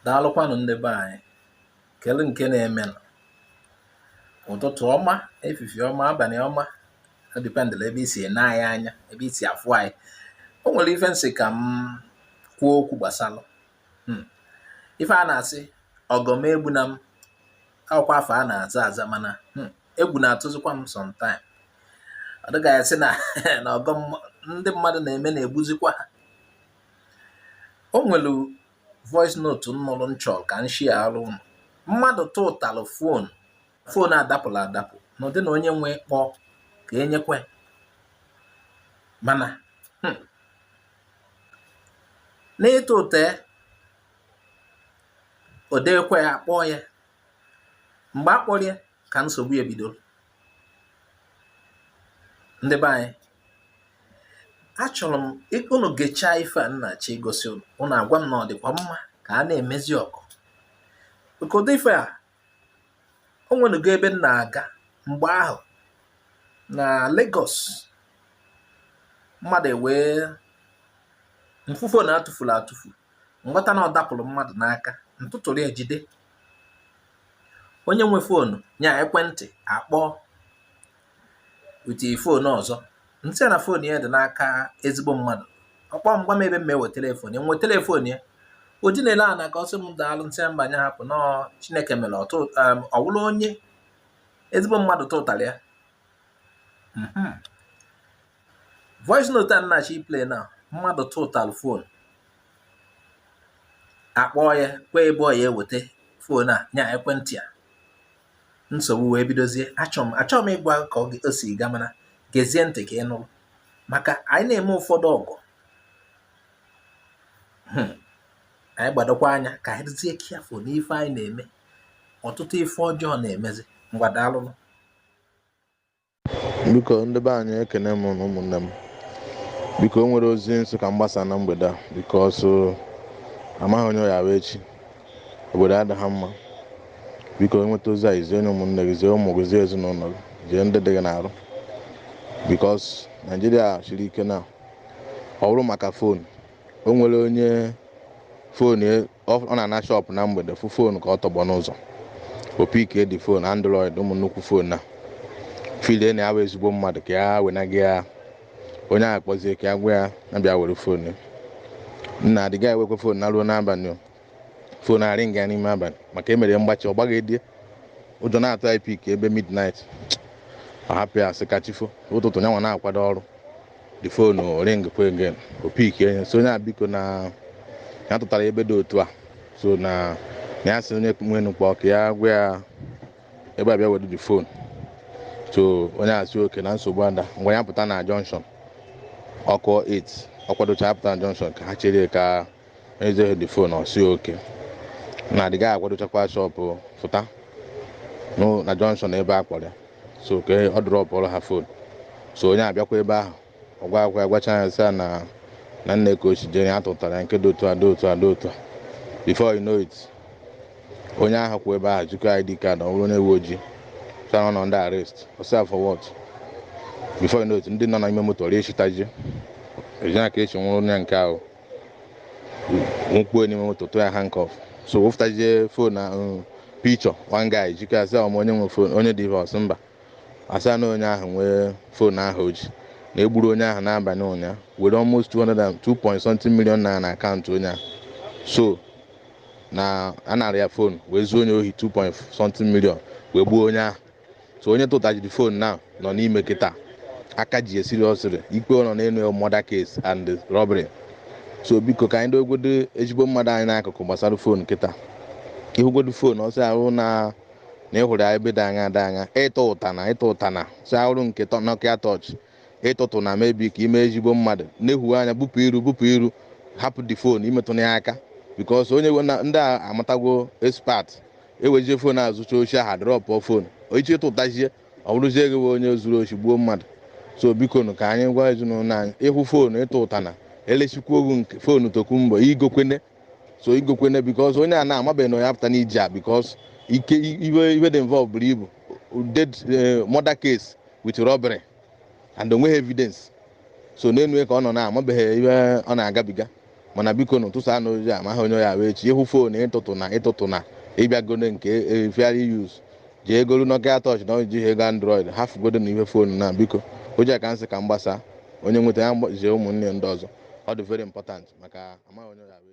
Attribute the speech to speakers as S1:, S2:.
S1: daalụkwanụ ndị be anyị kele nke na-eme ụtụtụ ọma efifie ọma abalị ọma ọ dipendịlị ebe i si ene anyị anya ebe i si afụ anyị o nwere ife m sị ka m kwuo okwu gbasara hmm. ife a na-asị ọgọ m egbuna m awụkwa afa a na-aza aza mana hmm, egwu na-atụzikwa m sometime ọ dị ka a sị na na ọgọ ndị mmadụ na-eme na-egbuzikwa ha o nwere voice note m nụrụ m chọrọ ka m sharerụ ụnụ mmadụ tụtalụ fon fon a dapụlụ adapụ n'ụdị na onye nwe kpọọ ka e nyekwe mana hmm, n'ịtụta ya odekwe ya kpọọ ya mgbe a kpọrọ ya ka nsogbu bidoro ndị be anyị achọrọ m unu gechaa ife a m na-achọ igosi unu unu agwa m na ọ dịkwa mma ka a na-emezi ọgọ ụdị ife a o nwenugo ebe m na-aga mgbe ahụ na Lagos mmadụ ewee m fụ foonu a tụfuru atụfu m ghọta na ọ dapụrụ mmadụ n'aka m tụtụrụ ya jide onye nwe foonu nya ekwentị akpọọ with fon ọzọ m sị ya na fon ya dị n'aka ezigbo mmadụ ọ kpọọ m gwa m ebe m ewetele fon ya m wetele fon ya o ji naịra n'aka ọ sị m daalụ m sị mba nya hapụ na ọ chineke mere um, ọ wụrụ onye ezigbo mmadụ tụtara ya mhm. voice note a m na-achọ ịplay na mmadụ tụtalụ fon a kpọọ ya kwe ebe ọ ya eweta fon a nya ekwentị a nsogbu wee bidozie achọ m achọ m ịgwa ka o si ga mana gezie ntị ka ị nụrụ maka anyị na-eme ụfọdụ ọgọ hmm. anyị gbadokwa anya ka anyị dịzie careful n'ife anyị na-eme ọtụtụ ife ọjọọ na-emezi ngwa daalụnụ
S2: biko ndị be anyị ekene m na ụmụnne m biko o nwere ozi m sị ka m gbasaa na mgbede a because amaghị onye ya-awụ echi obodo adịghị mma biko ị nweta ozi a i zie nye ụmụnne gị zie ụmụ gị zie ezinụlọ gị zie ndị dị gị n'arụ because naijiria siri ike na ọ bụrụ maka fon o nwere onye fon ọ ọ na-ana shọpụ na mgbede fụ foonu ka ọ tọgbọ n'ụzọ ọ pikie the foonu android ụmụ nnukwu foonu na-efeel na ya bụ ezigbo mmadụ ka ya wenaga ya onye ahụ kpọzie ka ya gwa ya na bịa were foonu ya. nna the guy ewekwa foonu naa ruo n'abalị o. foonu aringa n'ime abalị maka e mere ya mgbachi ọ gbaghị edie ụjọ na-atụ ya ịpick ebe midnight ọ hapụ ya sị ka chi fo ụtụtụ nyanwa na-akwado ọrụ the phone ringkwa again o pickie nye sị onye a biko na ya tụtara ebe dị otu a so na na ya sị onye nwenụ kpọọ ka ya gwa ya ebe a bịa were the phone so onye a sị okay na nsogbu ada ngwa ya pụta na junction ọ kụọ 8 ọ kwadocha ya pụta na junction ka ha chere ka ezeghị the fon ọ sị okay na adịghị akwadochakwa shop fụta n'ụ- na junction ebe a kpọrọ ya so ka ọ dropụrụ ha fon so onye a bịakwa ebe ahụ ọ gwaakwa ya gwacha ya sị ya na na nee ka o shi jere ya tụtara ya nke dị otu a dị otu a dị otu a before you know it onye ahụ kwụ ebe ahụ zikọ id card ọ bụrụ onye uwe ojii sị na ọ nọ under arrest ọ sị ya for what before you know it ndị nọ n'ime moto rịa echitaji ejina ka e shi nwụrụ onye nke ahụ nwụkpuo n'ime moto tụọ ya handcuff so wefụtazie fon na um, picture one guy zikọ ya sị ọ ma onye nwe fon onye dị ọ sị mba a sị ya na onye ahụ nwe fon ahụ o ji na e gburu onye ahụ n'abalị ụnyaahụ were almost 2 point something million naira na akaụntụ onye ahụ so na a nara ya fon wee zuo onye ohi 2 point something million wee gbuo onye ahụ so onye tụtaziri fon na nọ n'ime kịta aka ji esiri ọsịrị ikpe ọ nọ n'elu murder case and robbery so biko ka anyị dowegodo ezigbo mmadụ anyị n'akụkụ gbasara fon kịta ị hụgodo fon ọ sị ya wụ na na ị hụrụ ya ebe dị anya dị anya ị tụtana ị tụtana sị ya wụrụ nke tọ- Nokia torch ị tụtụna maybe ka i mee ezigbo mmadụ nefu anya bupụ iru bupụ iru hapụ the fon i metụna ya aka because onye we- na- ndị a amatago expert ewezie fon a zucha oshi a ha dropụ fon i je tụtazie ọ bụrụzie gị bụ onye zuru oshi gbuo mmadụ so biko nụ ka anyị gwa ezinụlọ anyị ị hụ fon ị tụtana e lesikwa gị nke fon tokunbo i gokwene so i gokwene because onye a na amabeghị na ya pụta n'iji a because ike ihe ihe dị involve buru ibu dead eh, murder case with robbery and o nweghị evidence so n'enu ya ka ọ nọ na amabeghị ihe ọ na-agabiga mana biko nụ tụsaanụ ozi amaghị onye ya-awụ echi ị hụ fon ị tụtụna ị tụtụna ị bịagodo nke fairly used jee golu nokia torch na i jighị ego android hafụgodo na ihe fon na biko ozi a ka m sị ka m gbasa onye nweta ya zie ụmụnne ndị ọzọ ọ dị very important maka amaghị onye ya-awụ